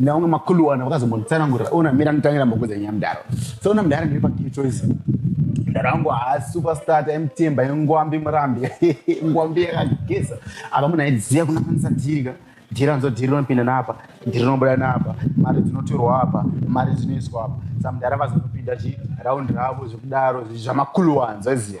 naunga makuluwana vakazombonditsanangurira ona mira nditangira mbokudza nyaya mudhara so ona mudhara ndiri pakey choice mudhara wangu haasi superstar taimutemba ingwambi murambi ingwambi yakageza apa munhu aidziya kunakanisa dhirika dhiri anzo dhiri rinopinda naapa dhiri rinobuda naapa mari dzinotorwa apa mari dzinoiswa apa samudhara vazonopinda chi raundi ravo zvekudaro zvamakuluwanza ziya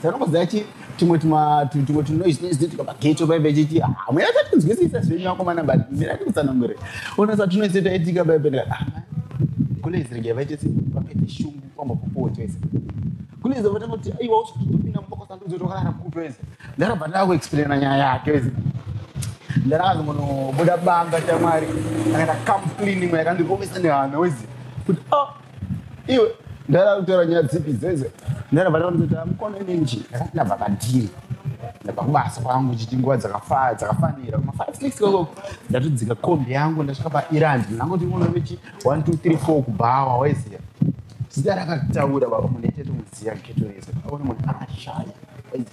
Dzanongo dzachi tumwe tuma tumwe tunoise noise tuka pageto baibe chiti hamwena ah, tatinzwisisa zvenyu vakomana but mira ndikutsanangure ona sa tunoise taitika baibe ndikati ah, kule izirege vaite si vapete shungu kwamba popo choise kule izo vatanga kuti aiwa usitopinda muboko sandudzo tokarara kuto ese ndarabva ndaku explaina nyaya yake ese ndarakazi munobuda banga chamwari akaita come cleaning yakandikomesa nehana wezi kuti oh iwe ndara kutora nyaya dzipi dzeze ndara vana vanoti amukona nenji ndakabva pandiri ndabva kubasa kwangu chiti nguva dzakafa dzakafanira kuma five six o'clock ndatodzika kombi yangu ndasvika pairandi ndangoti uno vechi one two three four kubhawa waiziva zita rakataura baba munetete muziva geto rese aona munhu akashaya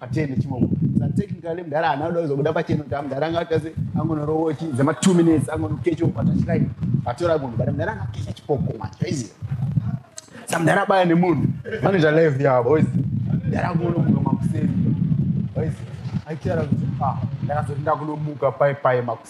atende chibongo sa technically mdara ana ndo zokuda pacheno ta mdara anga tase angono rowochi za ma 2 minutes angono kecho pa touch line atora munhu bada mdara anga kecha chipoko ma crazy sa mdara baya ne munhu mane za live ya boys mdara angono munhu makuseni boys aitara kuti ah ndakazoti ndakunomuka pai pai makuseni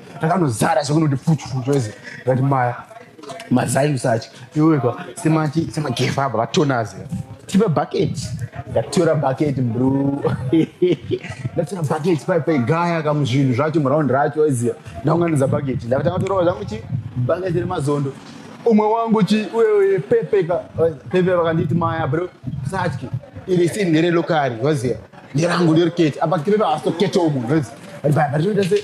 takanozara zvakunoti pfuchu pfuchu ese ngati maya mazai usachi iweka semachi semagefa apa vatonazi tipe bucket ndatora bucket bro ndatora bucket pai pai gaya kamu zvinhu zvacho muround racho iziya ndaunganidza bucket ndakatanga kutorova zvangu chi bucket remazondo umwe wangu chi uye pepe ka pepe vakanditi maya bro satyi iri si ndere lokari waziya ndirangu ndiriketi apa tipepe asitoketomu waziya but but but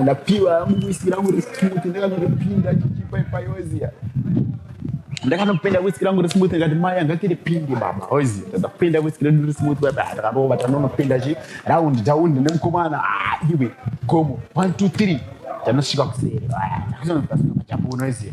ndakapiwa yangu whisky rangu resmooth ndakanoripinda chichipa ipayoziya ndakanopenda whisky rangu resmooth ndikati mai anga tiripinde baba ozi ndakapenda whisky redu resmooth baba ah, ndakarova tanonopenda chi round down nemukomana ah, iwe gomo 1 2 3 tanosvika kuseri ah, takuzonoachabunoziya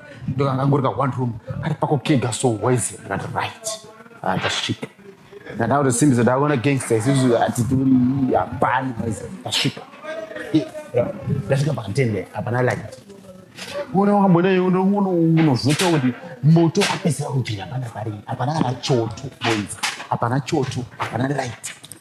ndokangangori ka one room kari pako kega so wise ndikati right ndasvika ah, ndada kuti simbi zodakona gangsta isusu hatitori hapani wise ndasvika ndasvika pakatende hapana light una wambonei unozvota kuti moto apesera kupinda pana pari hapana kana choto boys hapana choto hapana light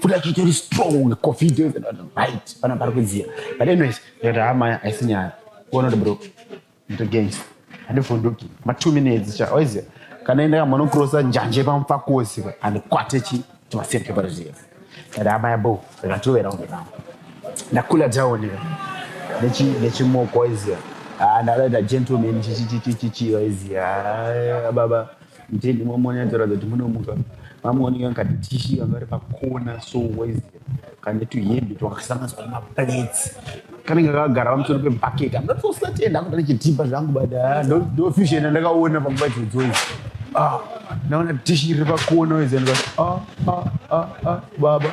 futi achitori strong covid right pana pari kudziya but anyways ndati ha maya haisi nyaya kuona kuti bro nditogains handivhunduki ma two minutes cha oiziya kana enda kamonokrosa njanje pamupfakosi andikwate chi timasirke paruziya ndati ha maya bo ndikatowera kunge navo ndakula down nechimoko oiziya ndakaita gentleman chichichichichichiwa iziya baba ndini momoni atoratidza kuti munomuka vamuoneka ngati tishi vanga vari pakona so wese kane tuhembe twakasanganiswa nemaplates kanenge kakagara pamusoro pebhaketi amda tosati enda kuda nechitipa zvangu but ah, ndofusion andakaona panguva dzodzoi ah, naona tishi riri pakona wese ah, baba